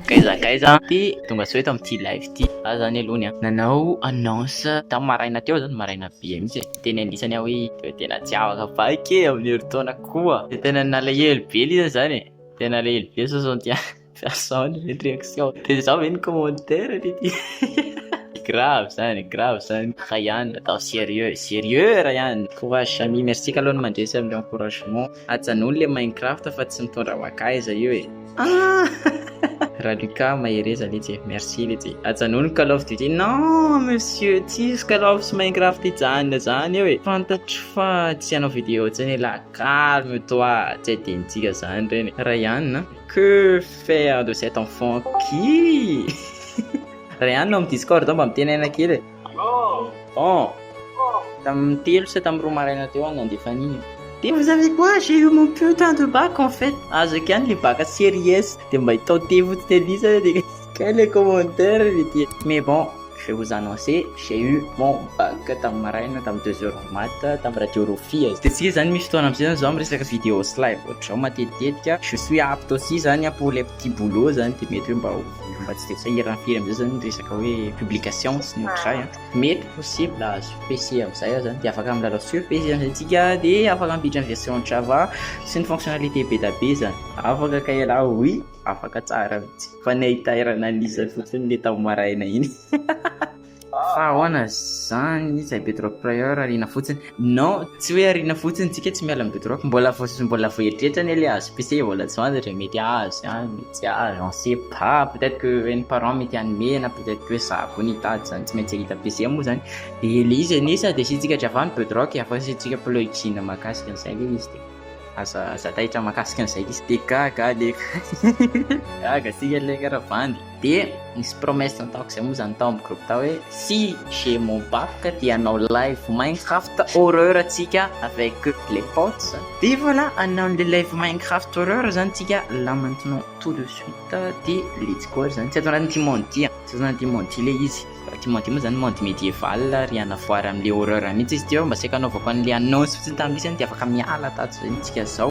Gaiza gaiza ty tonga sao eto amty live ty za zany aloha ny nanao annonce tam maraina teo zany maraina be mitsy e teny anisany aho hoe de tena tsy afaka vaky e aminy heritaona koa de tena nalahelo be lay za zany e tena nalahelo be sao zao dia sao ny reaction de zao ve ny commentaire ty ty grave zany grave zany Ryan atao serieux serieux Ryan courage Samy merci kaloha ny mandresy aminy encouragement. Ajanony le Minecraft fa tsy mitondra makaiza io e. Aah! Ra Lucas mahereza letsy e, merci letsy e. Ajanony Call of Duty, non monsieur tsisy Call of sy Minecraft hijanona zany eo e. Fantatro fa tsy hanao vidéo tsiny e la calme toi tsy adinontsika zany reny e. Ryan a, que faire de cet enfant qui? Ryan ao am discord ao mba mitenena kely e. Bon, tamin'ny telo sa tamin'ny roa maraina teo aho nandeha fanina. Dia vous savez quoi, j'ai eu mon putain de bac en fait. Azoko ihany le bac série S. Dia mba itao tefo tsy tendrisa dia kay le commentaire le dia. Mais bon, je vous annoncer, j'ai eu mon bac tamin'ny maraina tamin'ny deux heures en maths tamin'ny radio Rofia. Dia tsy zany misy fotoana amin'izay zany zaho miresaka vidéo sy live ohatr'izao matetitetika. Je suis apte aussi zany pour les petits boulots zany dia mety hoe mba ho. Fa tsy dia sahirana firy amin'izay zany ny resaka hoe publication sy ny ohatr'izay an. Mety possible ahazo PC amin'izay aza dia afaka milalao sur PC zany antsika dia afaka mampiditra ny version Java sy ny fonctionnalité be dia be zany. Afaka kay ialahy oui, afaka tsara mihitsy fa ny hahitairana an'izany fotsiny le tao maraina iny. Fa ahoana izany izay bedrock prior ariana fotsiny? Non, tsy hoe ariana fotsiny, tsika tsy miala amin'ny bedrock, mbola mbola voaeritreritra anie ilay azo PC vao latsonady re, mety azo ihany, mety tsy azo, on sait pas, peut être que reny parents mety hanome na peut être que za koa no hitady izany, tsy maintsy hahita PC moa izany, dia ilay izy anie sady asiantsika dravà ny bedrock, avy eo asiantsika plugin mahakasika an'izay ilay izy dia aza aza taitra mahakasika an'izay ilay izy. Dia gaga aho leka. Gaga tsika leka raha bandy. Dia nisy promesse nataoko izay moa izany tao amin'ny groupe tao hoe si j'ai mon bac dia hanao live Minecraft horreur antsika avec les potes. Dia voilà, hanao an'ilay live Minecraft horreur izany isika là maintenant tout de suite dia let's go ary izany. Tsy ato anatin'ity monde ity an, tsy ato anatin'ity monde ity ilay izy. Ty Mandy moa zany monde médiéval ry ana foara am le horreur mihitsy izy ty eo mba saika anaovako an le annonce fotsiny tam misy zany de afaka miala tato zay tsika zao.